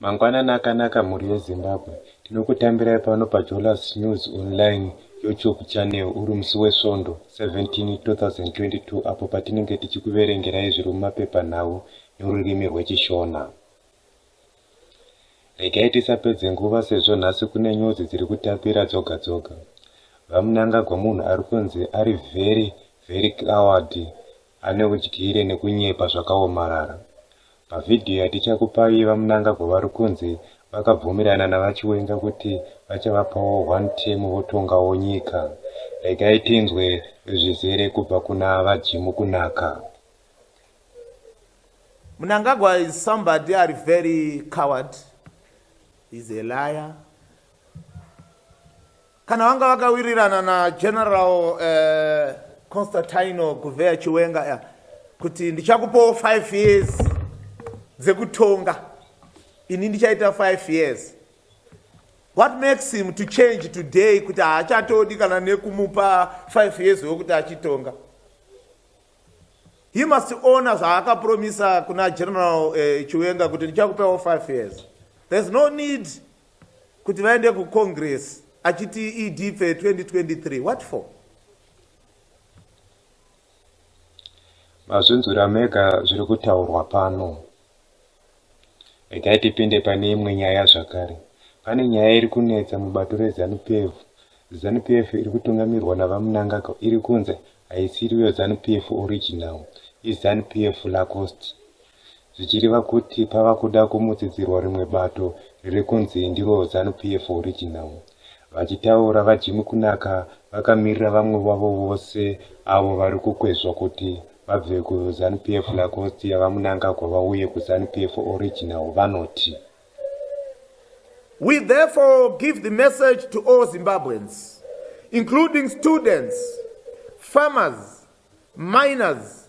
Mangwanani akanaka mhuri yeZimbabwe. Tinokutambirai pano paJolas News Online YouTube channel uri musi weSvondo 17 2022 apo patinenge tichikuverengerai zviri mumapepanhau norurimi rweChishona. Regai tisapedze nguva sezvo nhasi kune nyuzi dziri kutapira dzoga dzoga. VaMnangagwa munhu ari kunzi ari very very coward ane udyire nekunyepa zvakaomarara. Pavhidhiyo yatichakupai VaMnangagwa vari kunzi vakabvumirana naVaChiwenga kuti vachavapawo one term votongawo nyika. Regai tinzwe zvizere kubva kuna VaJim Kunaka. Mnangagwa is somebody ari very coward. He's a liar. kana vanga vakawirirana nageneral uh, eh, constantino guveya chiwenga ya kuti ndichakupawo five years dzekutonga ini ndichaita five years what makes him to change today kuti haachatodi kana nekumupa five years wekuti achitonga he must owner zvaakapromisa kuna general uh, chiwenga kuti ndichakupawo five years there's no need kuti vaende kucongress achiti ed fe 2023 what for mazvinzwira mega zviri kutaurwa pano regai tipinde pane imwe nyaya zvakare pane nyaya iri kunetsa mubato rezanupf zanupf iri kutungamirwa navamunangagwa iri kunzi haisiriyo zanupf original izanupf lacost zvichireva kuti pava kuda kumutsidzirwa rimwe bato riri kunzi ndiro Zanu PF original. Vachitaura, VaJimmy Kunaka vakamirira vamwe vavo vose avo vari kukwezvwa kuti vabve kuZanu PF Lacoste yaVaMnangagwa vauye kuZanu PF original vanoti. We therefore give the message to all Zimbabweans, including students, farmers, miners,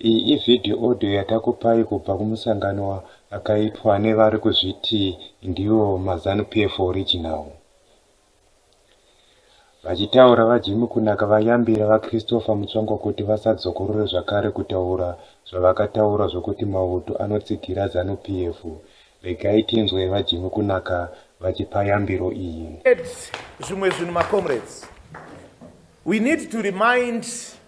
Iyi ivideo audio yatakupai kubva kumusangano wakaitwa nevari kuzviti ndivo maZanu PF original. Vachitaura VaJimmy Kunaka vayambira VaChristopher Mutsvangwa kuti vasadzokorore zvakare kutaura zvavakataura zvokuti mauto anotsigira Zanu PF. Regai tinzwe VaJimmy Kunaka vachipa yambiro iyi. Zvimwe zvinhu macomrades, we need to remind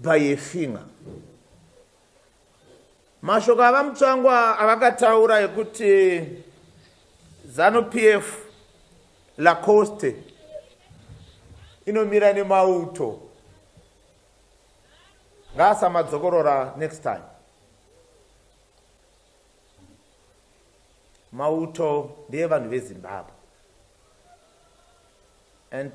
by a finger mashoko avamutsvangwa avakataura ekuti zanu p f lacoste inomira nemauto ngaasamadzokorora next time mauto ndeyevanhu vezimbabwe and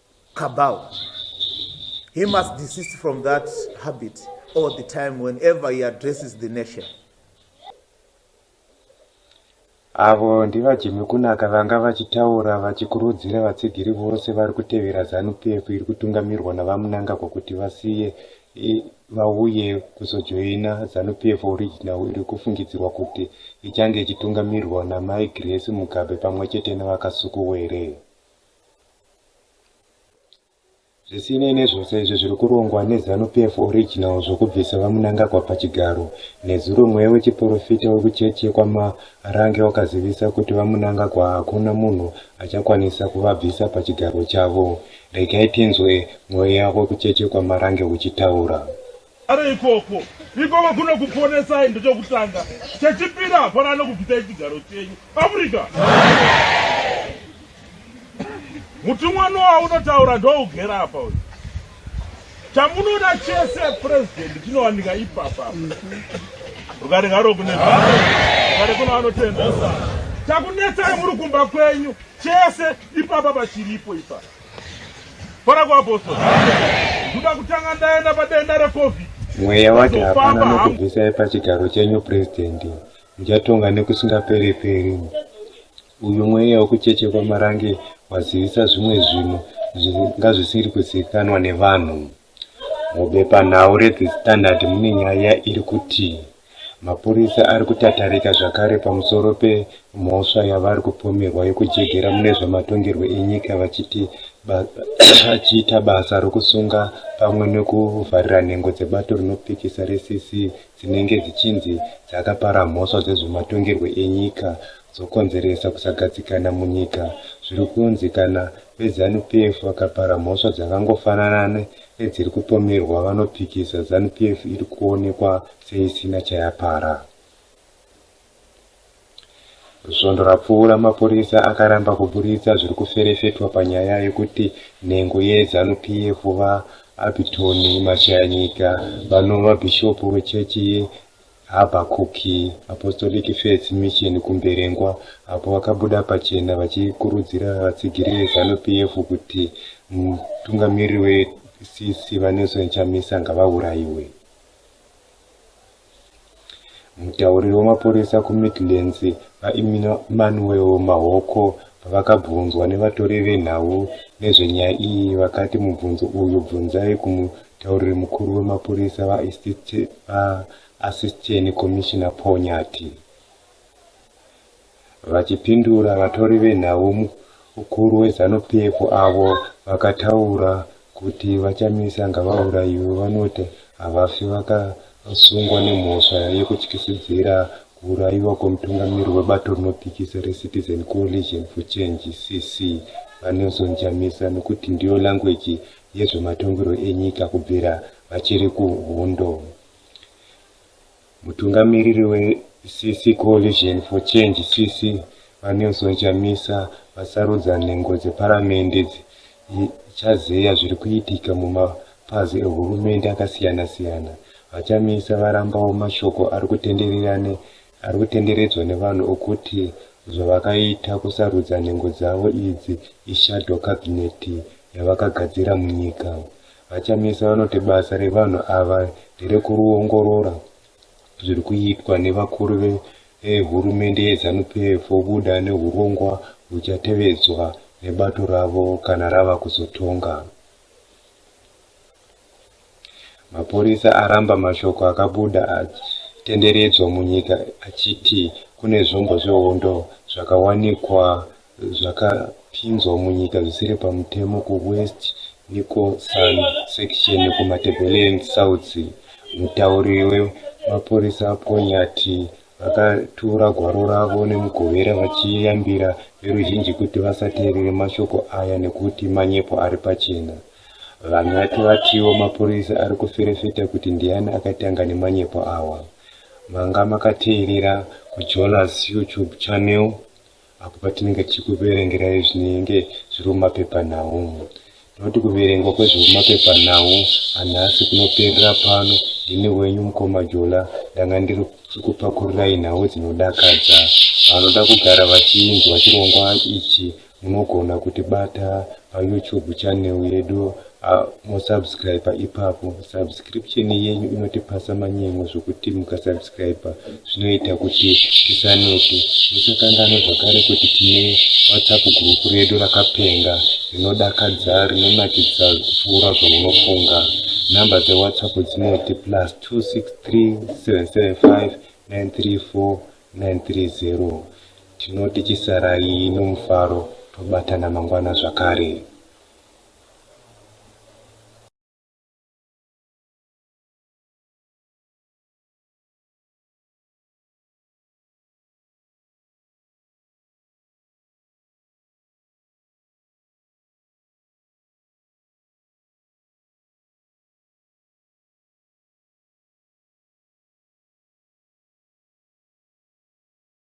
Kabau. He must desist from that habit all the time whenever he addresses the nation. Avo ndivajimi kunaka vanga vachitaura vachikurudzira vatsigiri vose vari kutevera ZanuPF iri kutungamirwa naVaMnangagwa kuti vasiye vauye kuzojoina ZanuPF Original iri kufungidzirwa kuti ichange ichitungamirwa naMai Grace Mugabe pamwe chete naVaKasukuwere. Zvisinei nezvose izvi zviri kurongwa neZanu-PF Original zvokubvisa VaMnangagwa pachigaro, nezuro mweya wechiporofita wekuchechi yekwaMarange wakazivisa kuti VaMnangagwa hakuna munhu achakwanisa kuvabvisa pachigaro chavo. Regai tinzwe mweya wekuchechi yekwaMarange uchitaura. Ari ikoko ikoko kuno kuponesai ndechokutanga chechipiri hapana anokubvisai chigaro chenyu africa mutumwa noa unotaura ndougera apa uyu chamunoda chese purezidenti chinowanika ipapa rugare ngaro kune rugare kuno anotenda chakunetsai muri kumba kwenyu chese ipapa pachiripo ipapa Fara kwa apostol. Ndoda kutanga ndaenda padenda reCovid. Mweya wake hapana nokubvisai pachigaro chenyu president. Muchatonga nekusingaperi peri. Uyu mweya wekucheche kwamarange wazivisa zvimwe zvinhu zvingazvisiri kuzivikanwa nevanhu. Mubepanhau reThe Standard mune nyaya iri kuti mapurisa ari kutatarika zvakare pamusoro pemhosva yavari kupomerwa yekujegera mune zvematongerwo enyika vachiita basa rokusunga pamwe nekuvharira nhengo dzebato rinopikisa reCC dzinenge dzichinzi dzakapara mhosva dzezvematongerwo enyika dzokonzeresa kusagadzikana munyika zviri kunzi kana veZanu PF vakapara mhosva dzakangofanana nedziri kupomerwa vanopikisa Zanu PF iri kuonekwa seisina chayapara. Svondo rapfuura mapurisa akaramba kuburitsa zviri kuferefetwa panyaya yekuti nhengo yeZanu PF VaAbitoni Mashayanyika vanova bhishopu wechechi Habakuki, Apostolic Faith Mission kuMberengwa, apo vakabuda pachena vachikurudzira vatsigiri veZanu PF kuti mutungamiriri weCC VaNelson Chamisa ngavaurayiwe. Mutauriri wemapurisa kuMidlands, VaEmmanuel Mahoko, pavakabvunzwa nevatori venhau nezvenyaya iyi vakati mubvunzo uyu bvunzai Mutauriri mukuru wemapurisa vaAssistant Commissioner Paul Nyathi vachipindura vatori venhau mukuru weZanu PF avo vakataura kuti VaChamisa ngavaurayiwe vanoti havafi vakasungwa nemhosva yekutyisidzira kuurayiwa kwemutungamiri webato rinopikisa reCitizen Coalition for Change, CC, VaNelson Chamisa nekuti ndiyo language yezvematongerwo enyika kubvira vachiri kuhondo. Mutungamiriri weCC Coalition for Change CC VaNelson Chamisa vasarudza nhengo dzeparamende dzichazeya zviri kuitika mumapazi ehurumende akasiyana-siyana. VaChamisa varambawo mashoko ari kutenderera ari kutenderedzwa nevanhu okuti zvavakaita kusarudza nhengo dzavo idzi ishadow cabinet yavakagadzira munyika vachamisa vanoti basa revanhu ava nderekuruongorora zviri kuitwa nevakuru vehurumende yezanupf vobuda neurongwa huchatevedzwa nebato ravo kana rava kuzotonga Mapurisa aramba mashoko akabuda atenderedzwa munyika achiti kune zvombo zvehondo zvakawanikwa zvakapinzwa munyika zvisiri pamutemo kuwest nicosan section kumatebeleland south mutauri wemapurisa ponyati vakatura gwaro ravo nemugovera vachiyambira veruzhinji kuti vasateerere mashoko aya nekuti manyepo ari pachena VaNyati vatiwo mapurisa ari kuferefeta kuti ndiani akatanga nemanyepo awa. Manga makateerera kuJolas YouTube channel apo patinenge tichikuverengerai zvinenge zviri mumapepanhau. Tinoti kuverengwa kwezviri mumapepanhau anhasi kunoperera pano. Ndini wenyu mukoma Jola ndanga ndiri kupakururai nhau dzinodakadza. Vanoda kugara vachinzwa chirongwa ichi munogona kutibata payoutube channel yedu ah, mosubscribe ipapo subscription yenyu inotipasa manyemwe zvokuti mukasubscribe zvinoita kuti tisanete musakanganwe zvakare kuti tine whatsapp group redu rakapenga rinodakadza rinonakidza kupfuura zvaunofunga number dzewhatsapp dzinoti plus 263 775 934 930 Tinoti chisarai nomufaro tobatana mangwana zvakare.